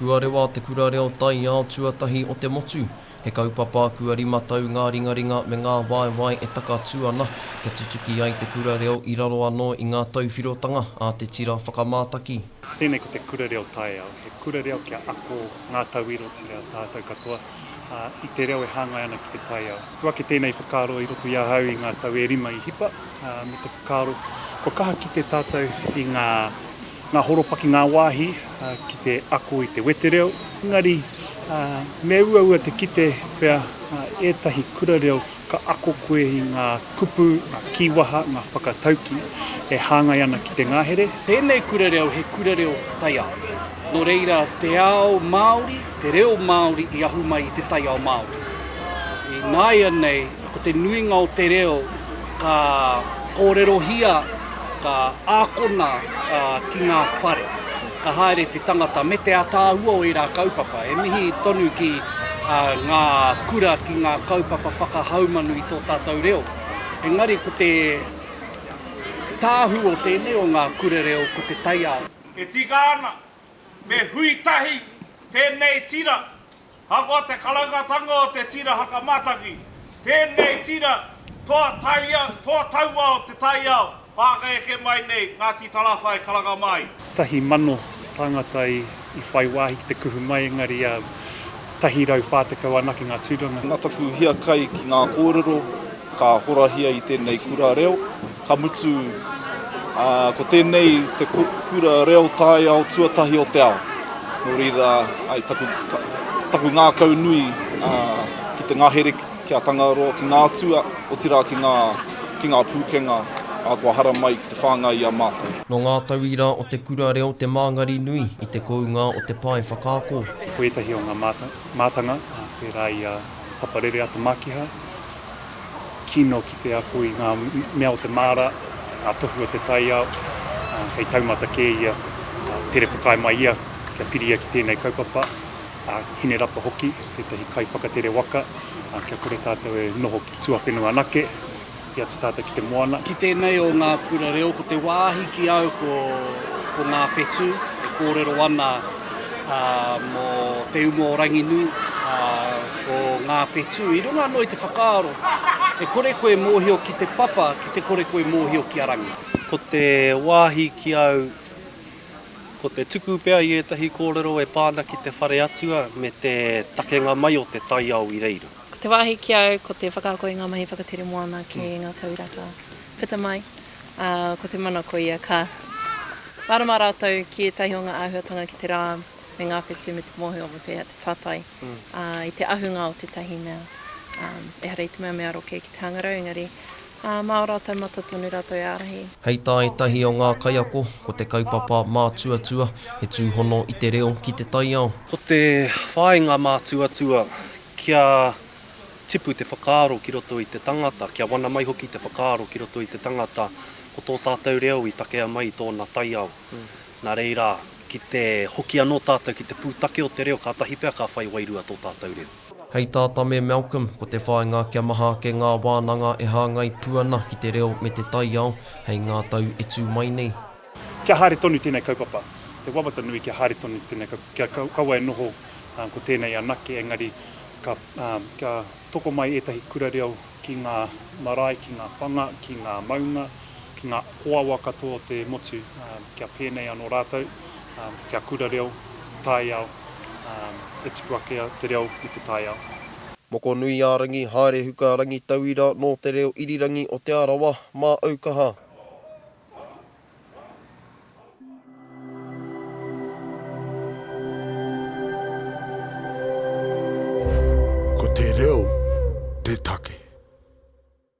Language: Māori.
Huarewa te kura reo taiao tuatahi o te motu. He kaupapa kua rima tau ngā ringaringa me ngā waewae e takatū ana, kia tutuki ai te kura reo i raro anō i ngā tauwhirotanga a te tira whakamātaki. Tēnei ko te kura reo taiao, he kura reo kia ako ngā tauiro tira a tātou katoa i te reo e hāngai ana ki te taiao. Kua ake tēnei whakaaro i roto i ahau i ngā tau e rima i hipa, me te whakaaro kua kaha kite tātou i ngā. Ngā horopaki ngā wāhi ki te ako i te wetereo, engari me uaua te kite pea ētahi kura reo ka ako koe i ngā kupu, ngā kīwaha, ngā whakataukī e hāngai ana ki te ngahere. Tēnei kura reo he kura reo taiao, nō reira te ao Māori, te reo Māori i ahu mai i te taiao Māori. Ināianei, ko te nuinga o te reo ka kōrerohia, Ka ākona ki ngā whare, ka haere te tangata me te ataahua o ērā kaupapa. E mihi tonu ki ngā kura ki ngā kaupapa whakahaumanu i tō tātou reo. Engari ko te tāhū o tēnei o ngā kura reo ko te taiao. E tika ana, me hui tahi tēnei tira Ahakoa te karangatanga o te tira hakamātaki, tēnei tira toa taiao, toa taua o te taiao whakaeke mai nei, Ngāti Tarāwhai, Karangamāi. Tahi mano tāngata i whai wāhi ki te kuhu mai, engari tahi rau whā tekau anake ngā tūranga. Nā taku hiakai ki ngā kōrero ka horahia i tēnei kura reo. Ka mutu, ā, ko tēnei te kura reo taiao tuatahi o te ao. Nō reira, ai taku, taku ngākau nui, ā, ki te ngahere ki a Tangaroa, ki ngā atua, otirā ki ngā, ki ngā pūkenga, ā, kua haramai ki te whāngai i a mātou. Nō ngā tauira o te kura reo te māngari nui i te kounga o te pae whakaako. Ko ētahi o ngā mātanga, pērā i a Papa Rere Ata Mākiha, kino ki te ako i ngā mea o te māra, ngā tohu o te taiao, ā, hei taumata kē ia, ā, tere whakaae mai ia kia piria ki tēnei kaupapa, ā, Hinerapa hoki, tētahi kaiwhakatere waka, ā, kia kore tātou e noho ki tuawhenua anake, i atu tātou ki te moana. Ki tēnei o ngā kura reo, ko te wāhi ki au ko, ko ngā whetū e kōrero ana, ā, mō te uma o Ranginui, ā, ko ngā whetū. I runga anō i te whakaaro, e kore koe mōhio ki te papa, ki te kore koe mōhio ki a Rangi. Ko te wāhi ki au, ko te tuku pea i ētahi kōrero e pā ana ki te whare atua me te takenga mai o te taiao i reira. Ko te wāhi ki au, ko te whakaako i ngā mahi whakatere moana ki ngā tau rata. Puta mai, ā, ko te mana koia ka mārama rātou ki ētahi o ngā āhuatanga ki te rā me ngā whetū me te mōhio me pēhea te tātai ā, i te ahunga o tētahi mea. Ā, ehara i te mea me aro kē ki te hangarau, engari, ā, mā ō rātou mata tonu rātou e ārahi. Hei tā ētahi o ngā kaiako, ko te kaupapa mātuatua he tūhono i te reo ki te taiao. Ko te whāinga mātuatua kia. tipu te whakaaro ki roto i te tangata, kia wana mai hoki te whakaaro ki roto i te tangata ko tō tātou reo i takea mai i tōna taiao. Nā reira, ki te hoki anō tātou ki te pūtake o te reo, kātahi pea ka whai wairua tō tātou reo. Hei tā Tame Malcolm, ko te whāinga kia maha ake ngā wānanga e hāngai pū ana ki te reo me te taiao hei ngā tau e tū mai nei. Kia haere tonu tēnei kaupapa, he wawata nui kia haere tonu tēnei kaupapa, kia kaua e noho ko tēnei anake, engari kia toko mai ētahi kura reo ki ngā marae, ki ngā whanga, ki ngā maunga, ki ngā hoahoa katoa o te motu, kia pēnei anō rātou, kia kura reo taiao, e tipu ake te reo i te taiao. Mokonuiārangi, Haerehuka Rangitauira nō te reo irirangi o Te Arawa, Māʻaukaha. Ko te reo te take.